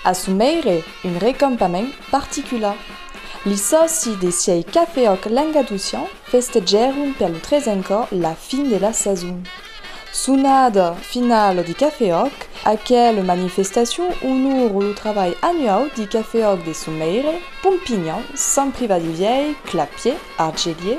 Assumèire un recampament particular. Li sòci de sièi Cafèòc Langaducian festegèron per lo tresen còp la fin de la sason. Sonada finala de Cafèòc, aquela manifestacion onora lo trabalh annuau de Cafèòc de Somèire, Pompinhan, Sant Privat de Vièi, Clapier, Argelier,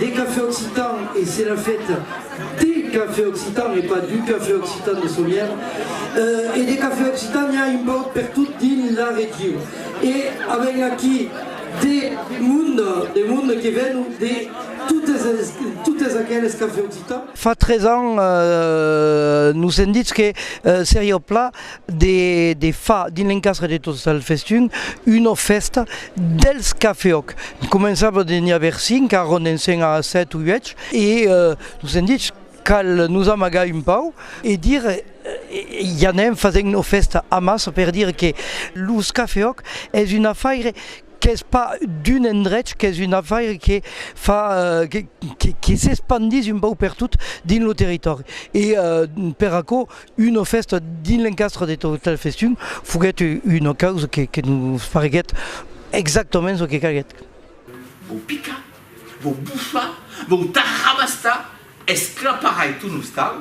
de cafè occitan e se n'a fèt de cafè occitan e pas du cafè occitan de Somièr e de cafè occitan n'i a un pauc pertot dins la region e avèm aquí de mond de mond que vèn de totes aqueles cafè occitan. Fa tres ans nos èm ditz que seriá pla de fa dins l'encastre de tot el festin una fèsta dels cafeòc començava de n'i aver 5 arron ensenh a 7 o 8 e nos èm dich cal nos amagar un pauc e dire i anem fasent una fèsta amassa per dire que los cafeòc es un afaire Qu'es pas d'un endrech, qu'es un afaire que fa que s'espandís un pauc pertot dins lo territòri e per aquò una fèsta dins l'encastre de Total Festum foguèt una causa que nos fareguèt exactament çò que calguèt. Vau picar, vau bufar, vau tarrabastar, esclaparai ton ostal.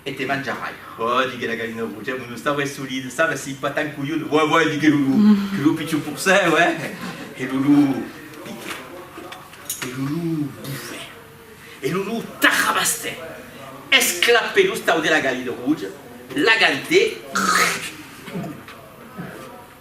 E te manjarai! Òh! diguèt la galina roja, mon os tau es solid, sabes, si pas tan colhut! Uèi, uèi, diguèt Lulú, que lo pichon forcèu, eh! E Lulú piquèt, e Lulú bufèt, e Lulú tarrabastèt, esclapèt los tau de la galina roja, l'agantèt, crrrrc!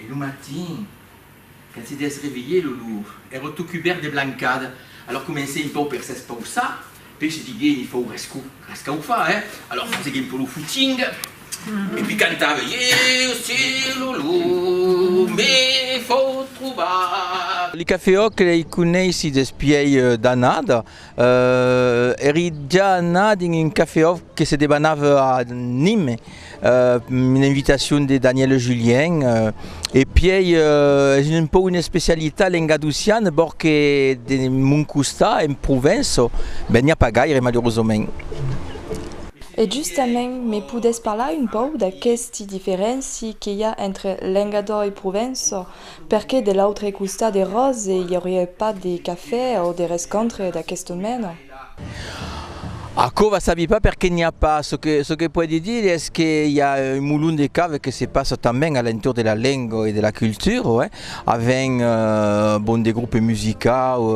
E lo matin, quand se desrevelhè lo lur, èra tot cubèrt de blancada. Alòr comencè un pauc per s'espausar, puèi se diguè eni fòu rescu, rescaufar, hè? Alòr fasegue un pòu lo fuching e puèi cantave, Ieu se lo lur me fòu trobar. Li cafeòc lei coneissi despièi d'anada. Èri ja anat dins un cafè-òf que se debanava a Nîmes, una invitacion de Danièle Julien, e pièi es un pauc una especialitat lengadociana, bòr que de mon costat, en Provença, ben n'i a pas gaire, malerosament. E justament, me podètz parlar un pauc d'aquesti diferénci que i a entre lengador e Provença? Perqué de l'autre costat de Ròse i auriá pas de cafè o de rescontre d'aquesta mena? Aquò va sabi pas perqué n'i a pas, çò que çò que puedi dire es que i a un molon de cave que se passa tanben a l'entorn de la lenga e de la cultura, oe, avèn bon de groupes musicau,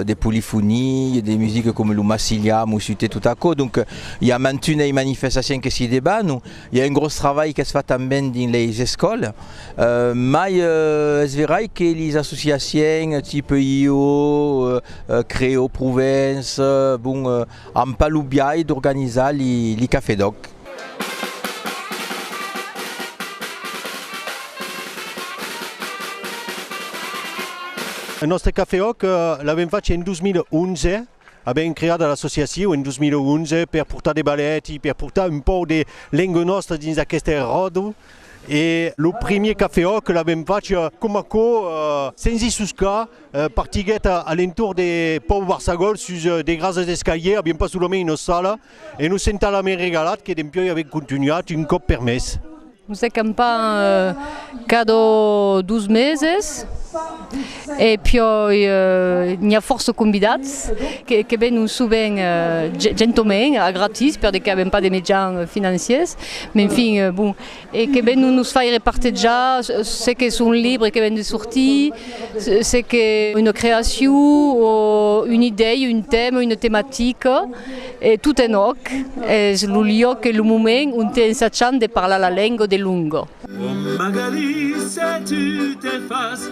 de polifonie, de musique coma lo massilià, musutè, tot aquò, donc i a mantunei manifestacion que s'i debanon. I a un gròs travalh qu'es fat tanben dins leis escòlas, mai es verai que lis associaciens tipe IO, Creo Provence, bon, an pas lo biais d'organizar li cafè d'òc. Nòstre cafè òc l'avèm fach en 2011, Avèm creada l'associacion en 2011 per portar de balèt e per portar un pauc de lenga nòstra dins aqueste ròdol e lo primier cafè òc l'avèm fach coma aquò sens i suscar partiguèt a l'entorn de Pòu Barçagòl sus de grasas escaliers, avián pas solament una sala. E nos en talament regalat que dempioi avem contunhat un còp per mes. Nos acampam cada dos meses e pioi n'i a fòrça convidats que venon sovent gentoment a gratis per de que avem pas de mejans financiers, m'enfin, bon, e que ven nos faire partejar se qu'es un libre que ven de sortir, se qu'es una creacion o una idèia, un tèma, una tematica, e tot en òc, es lo luòc e lo moment onte ensachan de parlar la lenga de longa.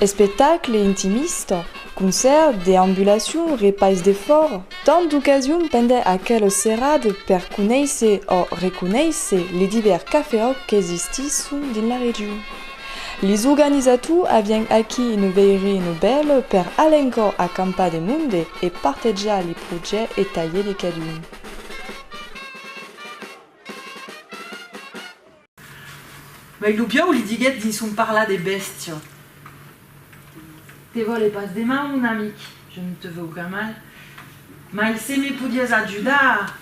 Espectacle intimista, concèrt, deambulacion, repais de fòra, tant d'ocasions pendent aquela serada per conéisser o reconéisser li divèrs cafeòcs qu'existisson dins la region. Li organizators avián aquí una veirina bèla per alencòr acampar de monde e partejar li projècts e talhièr de cadun. Mai lo piau li diguèt dins son parlar de bèstia, Te vòle pas de mal, mon amic, je ne te veux aucun mal, mai se me podiás ajudar,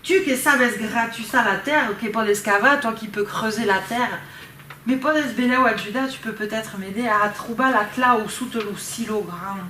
tu que sabes gratussar la tèrra, que pòdes cavar, toi qui peux creuser la tèrra, me pòdes benlèu ajudar, tu peux peut-être m'aider a trobar la clau sota lo silo grand.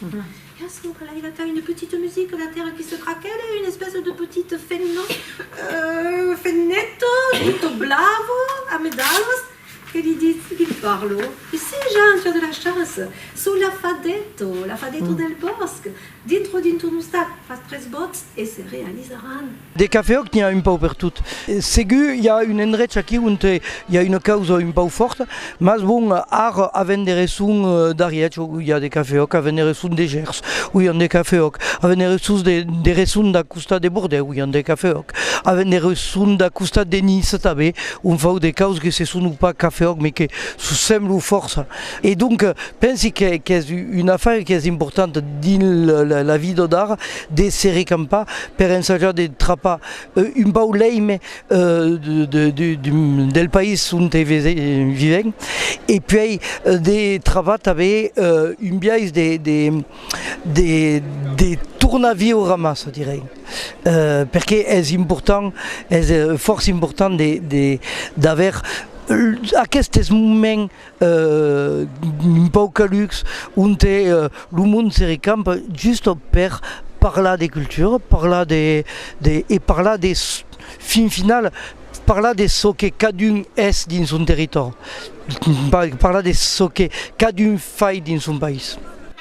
Qu'as donc a l'aiga qu'a une petite musique la terre qui se craquèle, une espèce de petit fenno, euh, fenneto, tutto blavo, a medalas, que li ditz, que li parlo, E si, Jean, tu as de la chance, sou l'afadetto, l'afadetto del bòsc, dintro dint'un ostal, fas tres bòts e se realizaràn. De cafè òc n'i a un pauc per tot. Segur i a un endrech aquí onte i a una causa un pauc fòrta, mas bon, ar a venderesson d'Arièch o i a de cafè òc, a venderesson de Gèrs o i an de cafè òc, a venderesson de de resson d'a costat de Bordèu i an de cafè òc, a venderesson d'a costat de Nice tanbe on fau de caus que se sono pas cafè òc me que s'o semblo fòrça. E donc pensi qu'es una afaire qu'es importanta dins la vida d'ar de se recampar per ensajar de trapar un pauc l'èime del país onte vivèm e puèi de travar tanben un biais de tornar viure amassa, çò dirèi, perque es important, es fòrça important d'aver aquestes moments un pauc calucs, onte lo mond se recampa just per parlar de cultura, parlar de de e parlar de fin final parlar de çò que cadun es dins son territòri, parlar de çò que cadun fai dins son país.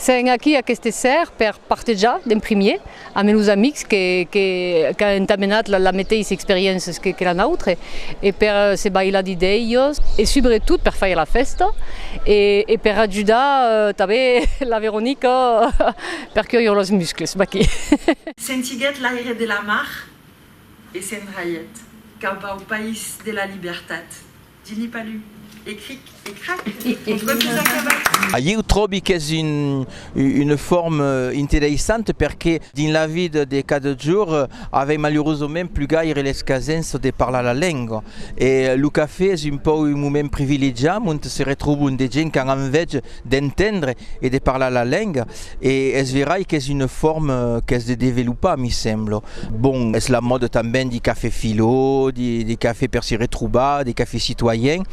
Sen aquí aqueste ser per partejar d'en primier ame los amics que qu'an entamenat la meteissa experiences que la nautre e per se bailar did elhos e subretot per faire la festa e per ajudar tanben la Veronica per curir los muscles maqui. Sentiguèt l'aire de la mar e s'endraièt cap au país de la libertat Dini Palu, e cric e crac, ton tròc es acabat! Ieu tròbi qu'es una forma interessanta perque dins la vida de cada jorn avèm malurosament plus gaire l'escasença de parlar la lenga e lo cafè es un pauc un moment privilegiat ont se retrobon de gents qu'an enveja d'entendre e de parlar la lenga e es verai qu'es una forma qu'es de developar, mi sembla. Bon, es la mòda tanben de cafè filo, de cafè per se retrobar, de cafè citoyen.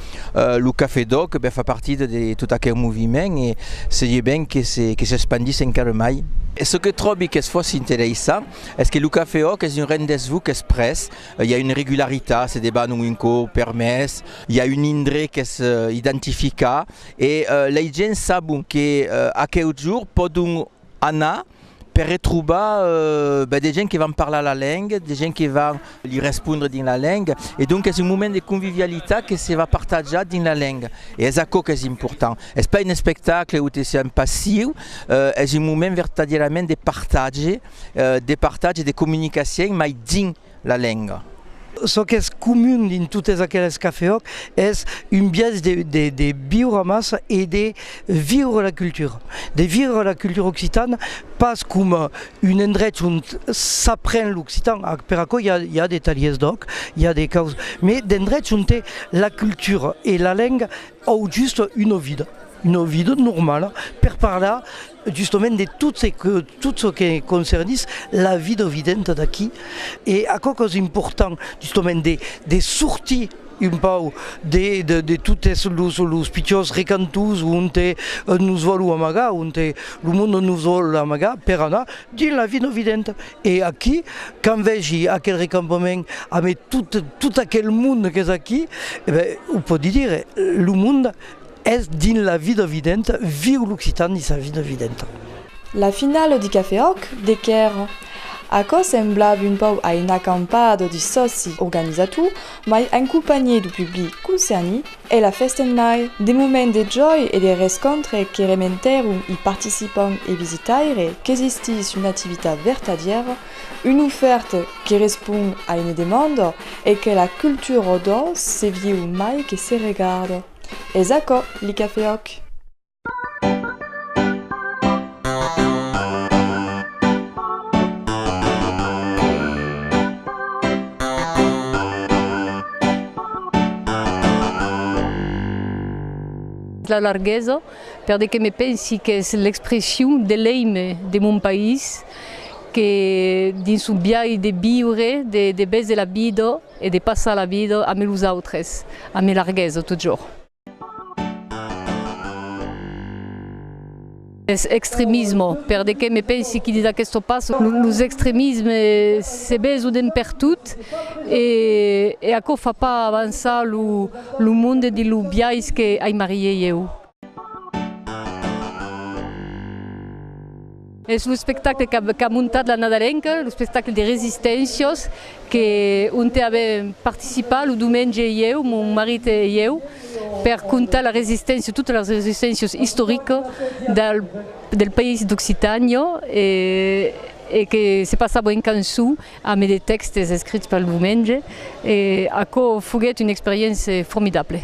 Lo cafè d'òc ben fa partida de tot aquel moviment e seria ben que s'espandís encara mai. E çò que tròbi qu'es fòrça interessant es que lo cafè òc es un rendez-vous qu'es pres, i a una regularitat, se debanon un còp per mes, i a un indret qu'es identificat, E lei gents sabon que aqueu jorn pòdon anar per retrobar de gents que van parlar la lenga, de gents que van li respondre dins la lenga. E donc es un moment de convivialitat que se va partajar dins la lenga. E es aquò qu'es important. Es pas un espectacle o te sent passiu, es un moment vertadièrament de partatge, de partatge, de comunicacion, mai dins la lenga. Çò qu'es comun dins totes aqueles cafeòc es un biais de viure amassa e de viure la cultura, de viure la cultura occitana pas coma un endrech ont s'apren l'occitan, per aquò i a de talhiers d'òc, i a de causas, mai d'endrechs onte la cultura e la lenga au just una vida, una vida normala per parlar justament de tot se que tot çò que concernís la vida evidenta d'aquí e aquò qu'es important justament de de sortir un pauc de de de totes los los pichons recantons onte nos vòlu amagar onte lo monde nos vòl amagar per anar dins la vida evidenta e aquí quand vegi aquel recampament amé tot tot aquel monde qu'es aquí e ben o pòdi dire lo monde Es dins la vida videnta, viu l'occitan dins sa vida videnta. La finala di Cafè Òc de Quer. Aquò semblava un pauc a una acampada di sòci organizator, mai en companhié du public concerni, e la festenmai. De moment de jòi e de rescontre que rementèron i participant e visitaire qu'existís una activitat vertadièra, una ofèrta que respond a una demanda e que la cultura Òdor se viu mai que se regarda. Es aquò li cafè òc. La larguesa, per de que me pensi qu'es l'expression de l'èime de mon país que dins son biais de viure, de bèse la vida, E de passar la vida ame los autres, ame larguesa totjorn. Es extremismo, per de que me pensi qui dida questo pas, los extremisme se besoden pertot e aquò fa pas avançar lo monde dins lo biais que aimarriei eu. Es lo espectacle qu'a montat la Nadalenca, lo espectacle de Resistencias, que onte avèm participat lo domenge i eu, mon marit e eu, per contar la resisténcia, totas las resisténcias istoricas del país d'Occitània e que se passava en cançon. A mai de tèxtes escrits pel Diumenge, e aquò foguèt una experiéncia formidable.